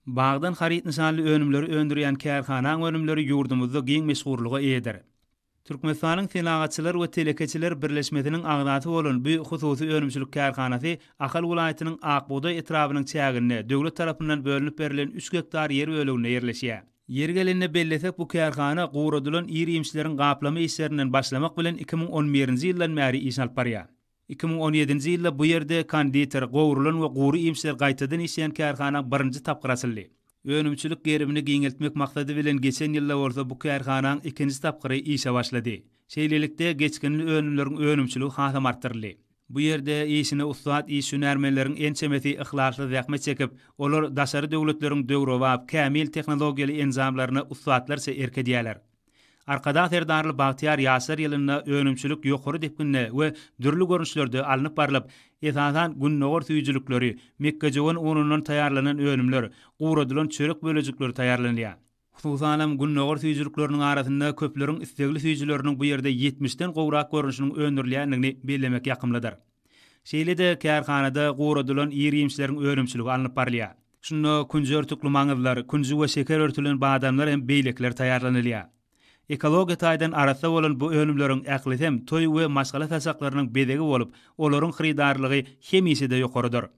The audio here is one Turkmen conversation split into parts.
Bagdan haryt nyşanly önümleri öndürýän kärhanaň önümleri ýurdumyzda giň meşhurlyga eýedir. Türkmenistanyň Senagatçylar we telekeçiler birleşmesiniň agzasy bolan bu hususy önümçilik kärhanasy Ahal welaýatynyň Akbugdaý etrabynyň çäginde döwlet tarapyndan bölünip berlen üç gektar ýer böleginde ýerleşýär. Ýeri gelende bellesek, bu kärhana guradylan ir-iýmişleriň gaplama işlerinden başlamak bilen iki müň on birinji ýyldan bäri iş alyp barýar. Iki müň on ýedinji ýylda bu ýerde konditer, gowrulan we gury iýmişler gaýtadan işleýän kärhana birinji tapgyr açyldy. Önümçilik gerimini giňeltmek maksady bilen geçen ýylda bolsa bu kärhanaň ikinji tapgyry işe başlady. Şeýlelikde, geçginli önümleriň önümçiligi hasam artdyryldy. Bu ýerde işine ussat iş hünärmenleriň ençemesi yhlasly zähmet çekip, olar daşary döwletleriň döwrebap, kämil tehnologiýaly enjamlaryna ussatlarça erk edýärler. Arkadag Serdarly bagtyýar ýaşlar ýylynda önümçilik ýokary depginde we dürli görnüşlerde alnyp barlyp, esasan, gündogar süýjülikleri, mekgejöwen unundan taýýarlanan önümler, guradylan çörek bölejikleri taýýarlanylýar. Hususanam, gündogar süýjülikleriniň arasynda köpleriň islegli süýjüleriniň bu ýerde ýetmişden gowrak görnüşiniň öndürilýändigini bellemek ýakymlydyr. Şeýle-de kärhanada guradylan ir-iýmişleriň önümçiligi alnyp barylýar. Şunda künji örtükli maňyzlar, künji we şeker örtülen badamlar hem beýlekiler taýýarlanylýar. Ekologiýa taýdan arassa bolan bu önümleriň ählisem toý we maşgala saçaklarynyň bezegi bolup, olaryň hyrydarlygy hemişe-de ýokarydyr.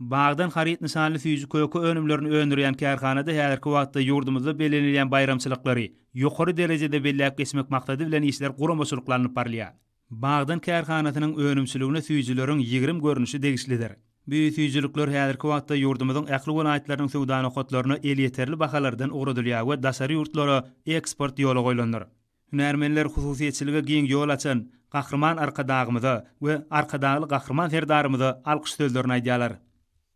Bagdan haryt nyşanly süýji köke önümlerini öndürýän kärhanada häzirki wagtda ýurdumyzda bellenilýän baýramçylyklary ýokary derejede belläp geçmek maksady bilen işler guramaçylykly alnyp barylýar. Bagdan kärhanasynyň önümçiligine süýjüleriň ýigrimi görnüşi degişlidir. Bu süýjülikler häzirki wagtda ýurdumyzyň ähli welaýatlarynyň söwda nokatlaryna elýeterli bahalardan ugradylýar we daşary ýurtlara eksport ýola goýlandyr. Hünärmenler hususyýetçilige giň ýol açan Gahryman Arkadagymyza we Arkadagly Gahryman Serdarymyza alkyş sözlerini aýdýarlar.